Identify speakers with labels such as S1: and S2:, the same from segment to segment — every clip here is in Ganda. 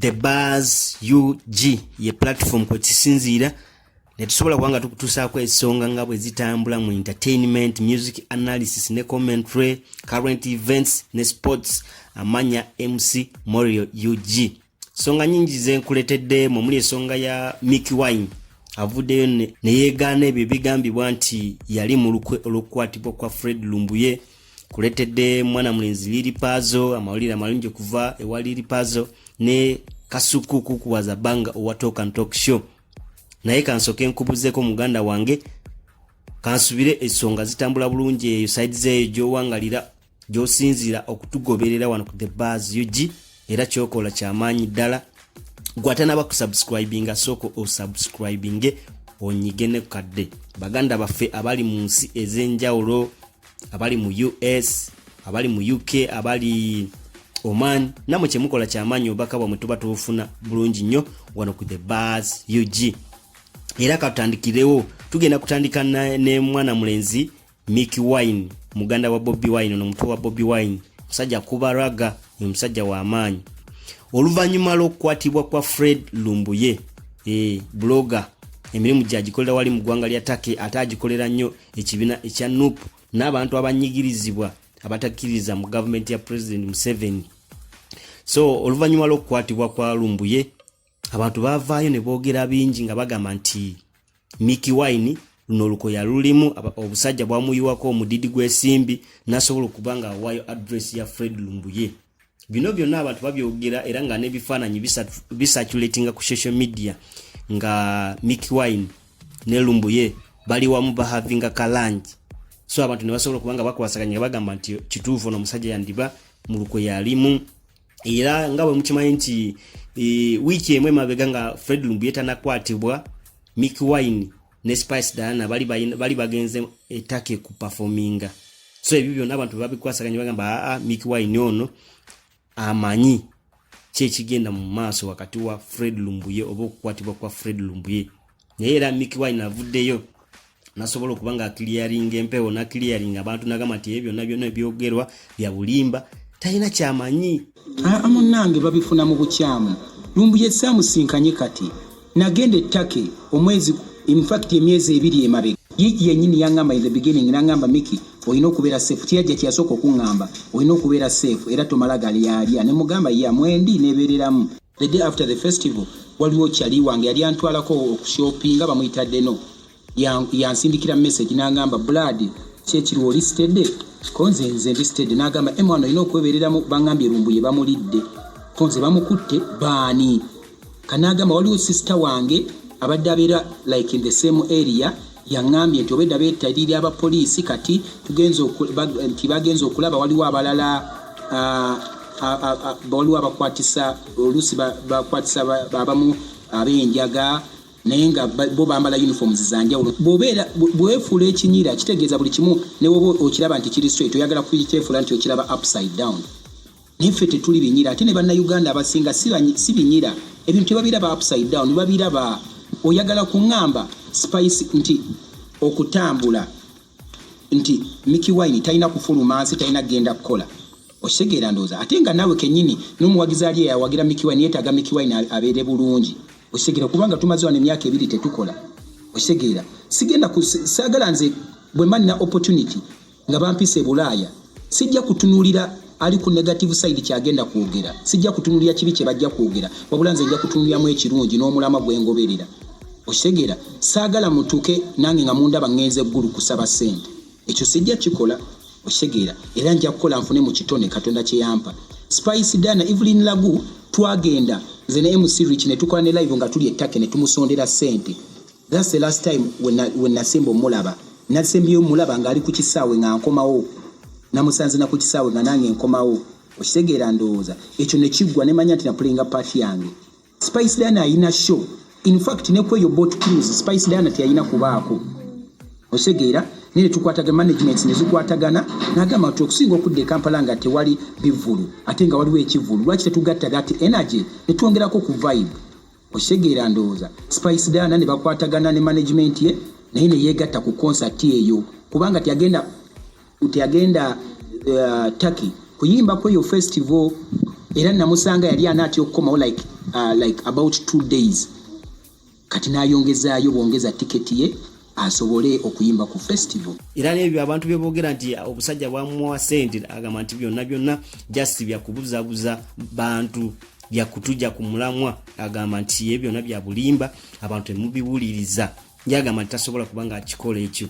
S1: the bars ug ye platform kwe kisinziira ne tusobola kuba nga tukutuusaako ensonga nga bwe zitambula mu entertainment music analysis ne commentary current events ne sports amanya mc morio ug songa nyingi zenkuletedde mu muli esonga ya Mickey Wine avuddeyo ne yeegaana ebyo ebigambibwa nti yali mu lukwe olw'okukwatibwa kwa Fred Lumbuye kuletedde mwana mulenzi Lili Pazo amawulire amalungi okuva ewa Lili Pazo ne Kasuku kukuwaza banga owa Talk and Talk Show naye kansoke nkubuzeeko muganda wange kansubire esonga zitambula bulungi eyo side zeeyo gyowangalira gyosinziira okutugoberera wano ku the bars ug era kyokola kyamaanyi ddala gwatanaba kusubscribinga sooka osubscribinge onyige ne kadde baganda baffe abali mu nsi ez'enjawulo abali mu us abali mu uk abali oman namwe kyemukola kyamaanyi obubaka bwamwe tuba tubufuna bulungi nnyo wano ku the bars ug era katutandikirewo tugenda kutandika ne mwana mulenzi Mickey Wine muganda wa Bobi Wine ono mutwe wa Bobi Wine musajja kuba raga oyo musajja wa maanyi oluvannyuma lw'okukwatibwa kwa Fred Lumbuye e, blogger emirimu gyagikolera wali mu ggwanga lya Turkey ate agikolera nnyo ekibiina ekya nup n'abantu abanyigirizibwa abatakkiririza mu gavumenti ya president Museveni so oluvannyuma lw'okukwatibwa kwa Lumbuye abantu baavaayo ne boogera bingi nga bagamba nti Mickey Wine luno olukoya lulimu obusajja bwamuyiwako omudidi gw'esimbi nasobola okuba nga awaayo adress ya Fred Lumbuye bino byonna abantu babyogera era nga n'ebifaananyi bisaculatinga ku social media nga Mickey Wine ne Lumbuye bali wamu bahavinga kalangi so abantu ne basobola okuba nga bakwasaganya bagamba nti kituufu ono omusajja yandiba mu lukoya alimu era nga bwe mukimanyi nti e, wiiki emu emabega nga fred lumbuye tanakwatibwa mick wine ne spice diana bali, bali bagenze etake ku performinga so ebyo byonna abantu bebabikwasaganya bagamba aa ah, ah, mick wine ono amanyi kyekigenda mu maaso wakati wa fred lumbuye oba okukwatibwa kwa fred lumbuye naye era mick wine avuddeyo nasobola okuba nga clearing empewo na clearing abantu nagamba nti ebyo byonna byonna ebyogerwa bya bulimba talina kyamanyi aa munange
S2: babifuna mu bukyamu lumbuye samusinkanye kati nagenda ettake omwezi infact emyezi ebiri emabe yiki yenyini yangamba in the beginning nangamba miki olina okubeera safe kiyajja kyeyasooka okuŋŋamba olina okubeera safe era tomala gali yalya ne mugamba ya mwendi nebeereramu The day after the festival waliwo kyali wange yali antwalako okushopinga bamuyita deno yansindikira ya message nangamba blood kyekiri oli stede konze nze ndi stede nagamba emwana olina okwebereramu bangambye lumbuye bamulidde konze bamukutte baani kanagamba waliwo sister wange abadde abeera like in the same area Yang'ambye nti obwedda beetalirira abapoliisi kati nti bagenze okulaba waliwo abalala waliwo abakwatisa oluusi bakwatisa abamu ab'enjaga naye nga bo bambala uniforms za njawulo bwobeera bwefuula ekinyira kitegeeza buli kimu ne woba okiraba nti kiri straight oyagala kukyefuula nti okiraba upside down Naye ffe tetuli binyira ate ne bannayuganda abasinga si banyi- si binyira ebintu tebabiraba upside down babiraba oyagala kuŋŋamba spice nti okutambula nti Mickey Wine talina kufuluma nsi talina kugenda kukola okitegeera ndowooza ate nga naawe kennyini n'omuwagizi ali eyawagira Mickey Wine yeetaaga Mickey Wine a- abeere bulungi okitegeera kubanga tumaze wano emyaka ebiri tetukola okitegeera sigenda ku- si- saagala nze bwe mba nina opportunity nga bampise bulaaya sijja kutunulira ali ku negative side kyagenda kwogera sijja kutunulira kibi kye bajja kwogera wabula nze nja kutunuliramu ekirungi n'omulama gwe ngoberera okitegeera saagala mutuke nange nga mundaba ŋŋenze eggulu kusaba ssente ekyo sijja kikola okitegeera era nja kukola nfune mu kitone katonda kye yampa spice dana evelyn lagu twagenda nze ne mc rich ne tukola ne live nga tuli ettake ne tumusondera ssente That's the last time when I, when nasembo mulaba nasembyeyo mulaba nga ali ku kisaawe nga nkomawo namusanze na ku kisaawe nga nange nkomawo okitegeera ndowooza ekyo ne kiggwa ne manya nti na playinga part yange Spice Diana ayina show in fact ne kweyo boat cruise Spice Diana teyalina kubaako okitegeera naye tukwataga management ne zikwatagana nagamba nti okusinga okudda e Kampala nga tewali bivulu ate nga waliwo ekivulu lwaki tetugatta that energy ne twongerako ku vibe okitegeera ndowooza spice dana ne bakwatagana ne management ye naye ne yeegatta ku concert eyo kubanga teyagenda teyagenda uh, turkey kuyimba kweyo festival era namusanga yali anaatya okukomawo like, uh, like about two days kati n'ayongezaayo bwongeza tiketi ye asobole okuyimba ku festival era nebyo abantu
S1: byebogera nti obusajja bwamuwa sente agamba nti byonna byonna just byakubuzabuza bantu byakutuja ku mulamwa agamba nti ye byona bya bulimba abantu temubiwuliriza ye agamba nti tasobola kuba nga akikola ekyo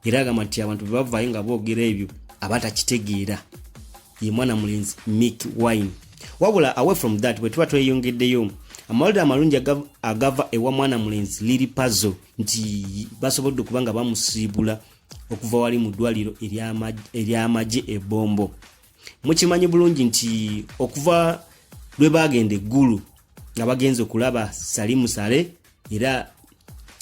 S1: era agamba nti abantu bebavayo nga boogera ebyo aba takitegeera ye mwana mulenzi mick wine wabula away from that bwe tuba tweyongeddeyo amawulire amalungi agava ewa mwana mulenzi liri pazo nti basobodde okuba nga bamusiibula okuva wali mu ddwaliro ery'amagye ebombo mukimanyi bulungi nti okuva lwe baagenda eggulu nga bagenze okulaba sali musale era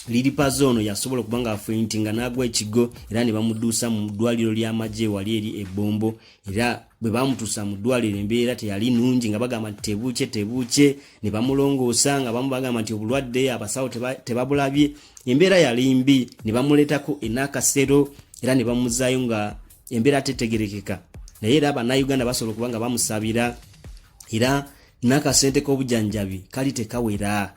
S1: liripaza ono yasobola okuba nga afuintinga n'agwa ekigo era ne bamuduusa mu ddwaliro ly'amagye wali eri ebbombo era bwe bamutuusa mu ddwaliro embeera teyali nungi nga bagamba nti tebuukye tebuukye ne bamulongoosa nga bamu bagamba nti obulwadde abasawo tebabulabye embeera yali mbi ne bamuleetako enakasero era ne bamuzaayo nga embeera tetegerekeka naye era bannayuganda basobola okuba nga bamusabira era n'akasente k'obujanjabi kali tekawera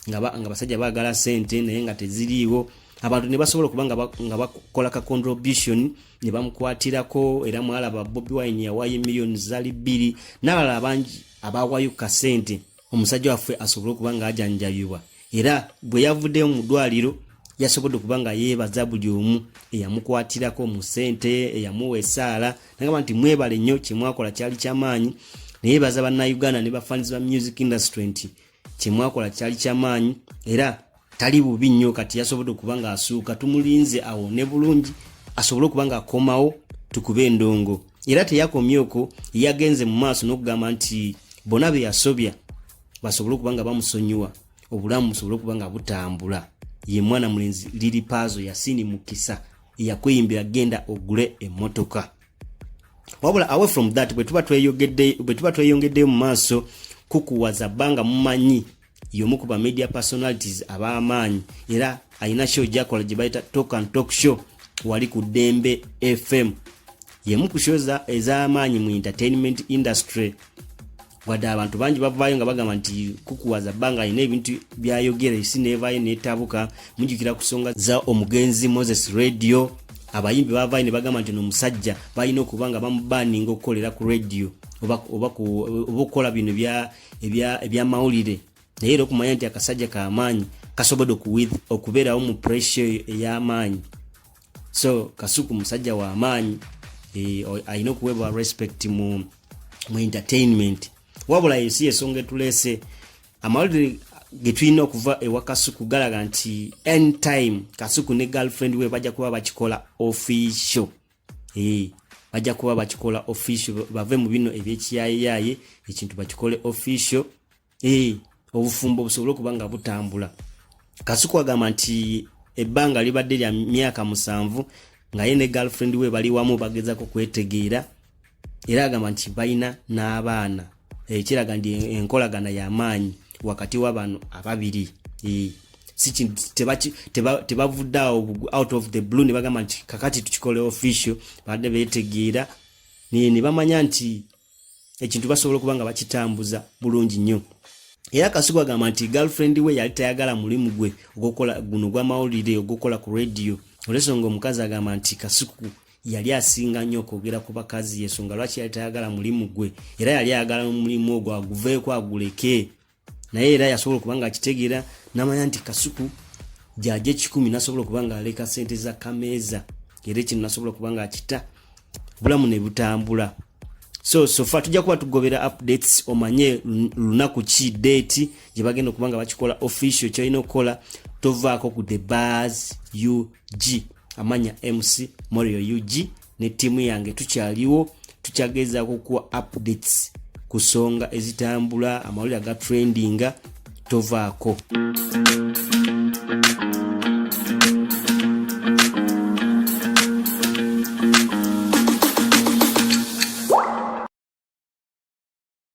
S1: nga basajja baagala sente naye nga teziriiwo abantu ne basobola okuba nga bakola ka contribution ne bamukwatirako era mwalaba bobi wine yawaayo emiliyoni zali bbiri n'abalala bangi abawaayo kasente omusajja waffe asobole okuba nga ajanjabibwa era bwe yavuddeyo mu ddwaliro yasobodde okuba nga yeebaza buli omu eyamukwatirako mu ssente eyamuwa essaala nagamba nti mwebale nnyo kyemwakola kyali kyamaanyi naye baza bannayuganda ne bafanizi ba music industry nti kyemwakola kyali kyamaanyi era tali bubi nnyo kati yasobodde okuba nga asuuka tumulinze awo ne bulungi asobole okuba nga akomawo tukube endongo era teyakomye okwo yagenze mu maaso n'okugamba nti bona be yasobya basobole okuba nga bamusonyiwa obulamu busobole okuba nga butambula ye mwana mulenzi liri paazo yasini mukisa eyakweyimbira genda ogule emmotoka wabula away from that bwetuba tweyongeddeyo mu maaso kukuwaza bbanga mumanyi yomu ku ba media personalities ab'amaanyi era alina show gyakola gye bayita talk and talk show wali ku dembe fm yemu ku show ez'amaanyi mu entertainment industry wadde abantu bangi bavaayo nga bagamba nti kukuwaza bbanga alina ebintu byayogera esi neevaayo neetabuka mujukira ku nsonga za omugenzi moses radio abayimbi bavaayo ne bagamba nti ono omusajja balina okuba nga bamubaninga okukolera ku radio oba okukola bino bya ebyamawulire naye era okumanya nti akasajja kamaanyi kasobodde okubeerawo mu pressure eyo ey'amaanyi so kasuku musajja wa maanyi eh, alina okuweebwa respect mu mu entertainment wabula eyo si yesonga etuleese amawulire getulina okuva ewa kasuku galaga nti anytime kasuku ne girlfriend we bajja kuba bakikola official Hey, bajja kuba bakikola official bave mu bino ebyekiyayeyaye ekintu bakikole official hey, obufumbo busobole okuba nga butambula kasuku agamba nti ebbanga libadde lya myaka musanvu nga ye ne girlfriend we bali wamu bagezako kwetegeera era agamba nti balina n'abaana ekiraga nti enkolagana y'amaanyi wakati wa bano ababiri tebavudde awo out of the blue ne bagamba nti kakati tukikole official badde betegeera ne bamanya nti ekintu basobola okuba nga bakitambuza bulungi nnyo era kasuku agamba nti girlfriend we yali tayagala mulimu gwe ogukola guno gwamawulire ogukola ku radio olwensonga omukazi agamba nti kasuku yali asinga nnyo okwogera ku bakazi yensonga lwaki yali tayagala mulimu gwe era yali ayagala omulimu ogwo aguveeko aguleke naye era yasobola okuba nga akitegeera namanya nti kasuku gyaja ekikumi nasobola okuba nga aleka sente za kameeza era ekino nasobola okuba nga akita bulamu ne butambula so sofa tujja kuba tugobera updates omanye lunaku ki date gye bagenda okuba nga bakikola official kyolina okukola tovaako ku the bars ug amanya mc morio ug ne ttiimu yange tukyaliwo tukyagezaako okuwa updates ku nsonga ezitambula amawulire aga trendinga tovaako